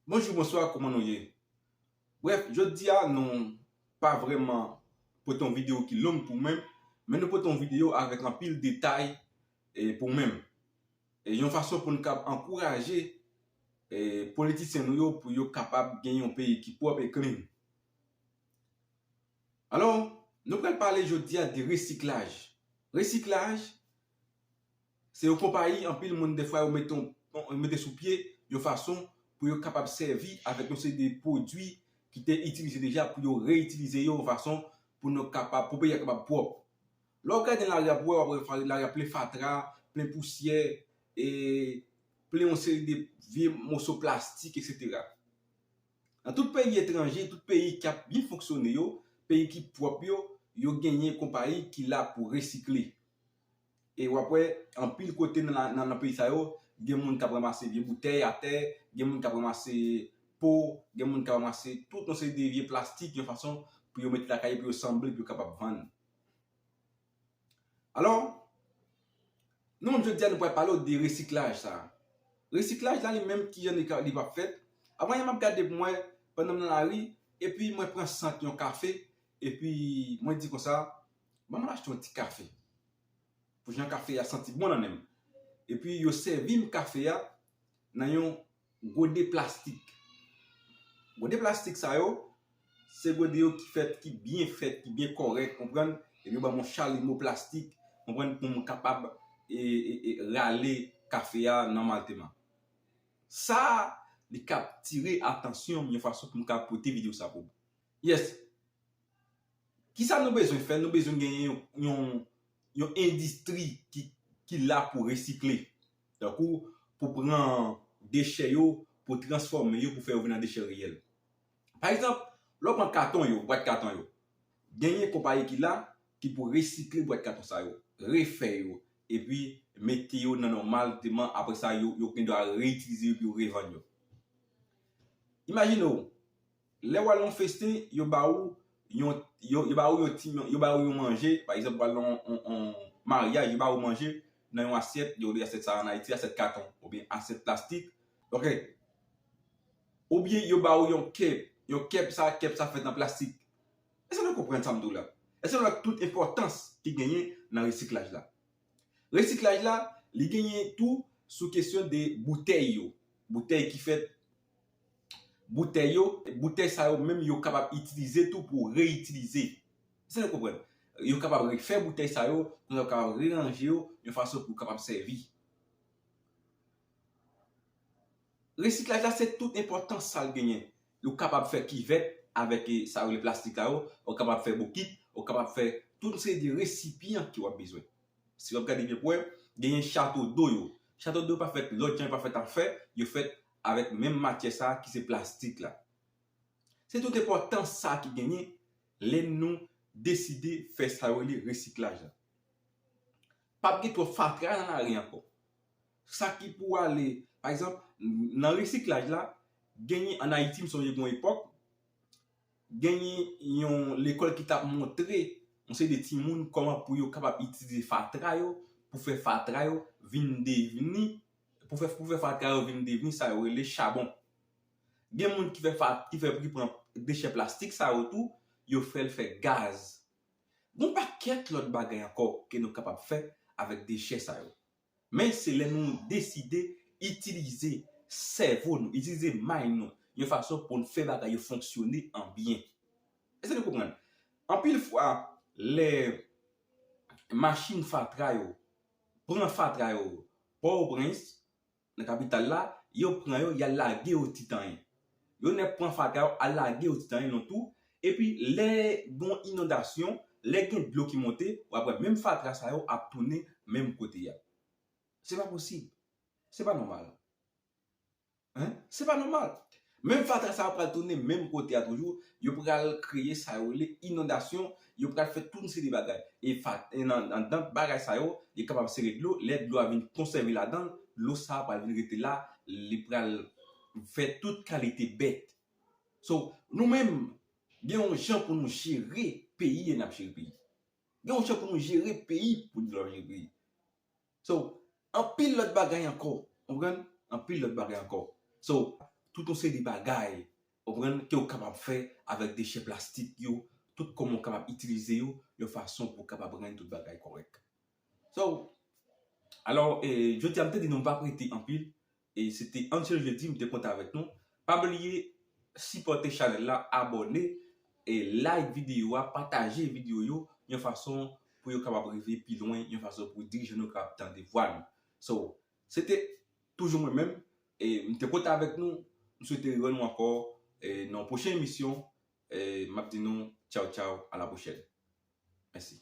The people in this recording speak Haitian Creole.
Bonjou bonswa kouman nou ye brèf jodia nou pa vrèman pote yon video ki long pou mwen men nou pote yon video avèk anpil detay pou mwen yon fason pou nou kab ankouraje politisyen nou yo pou yo kapab gen yon peyi ki pwòp e klin alò nou pral pale jodia de resiklaj resiklaj Se yon konpayi anpil moun dèfwa yo mete yon mete sou pye yon fason pou yo kapab sèvi avèk yon seri de pwodui ki te itilize deja pou yo reyitilize yo yon fason pou nou kapab pou peyi a kapab pwòp. Lè w gade nan lari a pou wè w ap wè lari a plen fatra, plen pousyè, e plen yon seri de vye moso plastik eksetera. Nan tout peyi etranje, tout peyi k ap byen fonksyone yo, peyi ki pwòp yo, yo genyen konpayi ki la pou resikle. E w ap wè anpil kote nan peyi sa yo, gen moun k ap ranmase vye boutèy atè, gen moun k ap ranmase po, gen moun k ap ranmase tout yon seri de vye plastik yon fason pou yo mete lakay yo, pou yo sanble, pou yo kapab vann. Alò, nou menm jodi a nou pral pale w de resiklaj sa. Resiklaj la li menm ki jan li va fèt? Avan yè m ap gade pou m wè, pandan m nan lari, epi mwen pran sant yon kafe, epi mwen di konsa, Ban mwen achte yon ti kafe pou jan kafe a santi bon nan nen m. Epi yo sèvi m kafe a nan yon gode plastik. Gode plastik sa yo, se gode yo ki fèt, ki byen fèt, ki byen kòrèk, konprann, epi yo ban m yon chalimo plastik, konprann, pou m kapab rale kafe a nòmalteman. Sa, li kaptire atansyon m yon fason pou m ka pote videyo sa pou ou. Yes! Kisa nou bezwen fè? Nou bezwen genyen yon endistri ki la pou resikle. Tankou pou pran dechè yo, pou transfòme yo, pou fè yo vin an dechè reyèl. Pa egzanp, lè w pran katon yo, bwat katon yo, genyen konpayi ki la ki pou resikle bwat katon sa yo, refè yo, epi mete yo nan nòmal deman apre sa yo gen dwa reitilize yo epi revann yo. Imajine w! Lè wal yon festen yo ba ou yon yo ba ou yon ti yo ba ou yon manje pa egzanp wal nan yon maryaj yo ba ou manje nan yon asyèt yo rele asyèt sa an ayiti asyèt katon oubyen asyèt plastik ok oubyen yo ba ou yon kep yon kep sa kep sa fèt an plastik èske nou konprann sam di w la èske nou wè tout enpòtans ki genyen nan resiklaj la resiklaj la li genyen tou sou kesyon de boutèy yo boutèy ki fèt boutèy yo, boutèy sa yo menm yo kapab itilize tou pou reyitilize. Èske nou konprann? Yo kapab refè boutèy sa yo, konsa yo kapab reranje yo yon fason pou kapab sèvi. Resiklaj la se tout enpòtans sa l genyen. Yo kapab fè kivèt avèk sa yo rele plastik la yo, yo kapab fè bokit, yo kapab fè tout yon seri de resipyan ke w ap bezwen. Si w ap gade byen pou w wè, genyen chato do yo. Chato do yo pa fèt lòt jan, yo pa fèt an fè, yo fèt avèk menm matyè sa ki se plastik la. Se tout enpòtans sa ki genyen lè nou deside fè sa yo rele resiklaj la. Pap gen twòp fatra nan lari ankò. Sa ki pou ale, pa egzanp, nan resiklaj la, genyen an Ayiti m sonje gen yon epòk, Genyen yon lekòl ki tap montre yon seri de timoun kòman pou yo kapab itilize fatra yo pou fè fatra yo vin devni pou fè pou fè fatra yo vin devni sa yo rele chabon. Gen moun ki fè fa ki fè ki pran dechè plastik sa yo tou yo fè l fè gaz. Gon pakèt lòt bagay ankò ke nou kapab fè avèk dechè sa yo. Men se lè nou deside itilize sèvo nou, itilize may nou yon fason pou n fè bagay yo fonksyone an byen. Èske nou konprann? Anpil fwa, lè machin fatra yo pran fatra yo Pòtoprens, nan kapital la, yo pran yo y al lage yo Titanyen. Yo nèk pran fatra yo al lage yo ditan yon tou, epi lè gon inondasyon, lè gen dlo ki monte, wap wè menm fatra sa yo ap tounen menm kote ya. Se pa posib. Se pa nòmal. Hein? Se pa nòmal. Menm fatra sa yo pral tounen menm kote ya toujou, yo pral kreye sa yo rele inondasyon, yo pral fè tout yon seri de bagay. E fa, e nan anndan bagay sa yo, li kapab sere dlo, lè dlo a vin konsève ladan, dlo sa pral vin rete la, li pral. Fè tout kalite bèt. So, nou menm, gen yon jan pou nou jere peyi e n ap jere peyi. Gen yon jan pou nou jere peyi pou n ap jere peyi. So, anpil lòt bagay ankò. Ou konprann? Anpil lòt bagay ankò. So, tout yon seri bagay, ou konprann, ke ou kapab fè avèk dechè plastik yo, tout kòman ou kapab itilize yo yon fason pou kapab rann tout bagay kòrèk. So, alò, jodi a m te di nou m pa prete anpil, e se te Angel Jeudi m te konte avèk nou pa bliye sipòte chanèl la abòne e like videyo a pataje videyo yo yon fason pou yo kapab rive pi lwen yon fason pou dirijan nou kapab tande vwa nou so se te toujou mwen menm e m te konte avèk nou m swete riwè nou ankò e nan yon pwochen emisyon e m ap di nou tchaw tchaw a la pwochèn mèsi.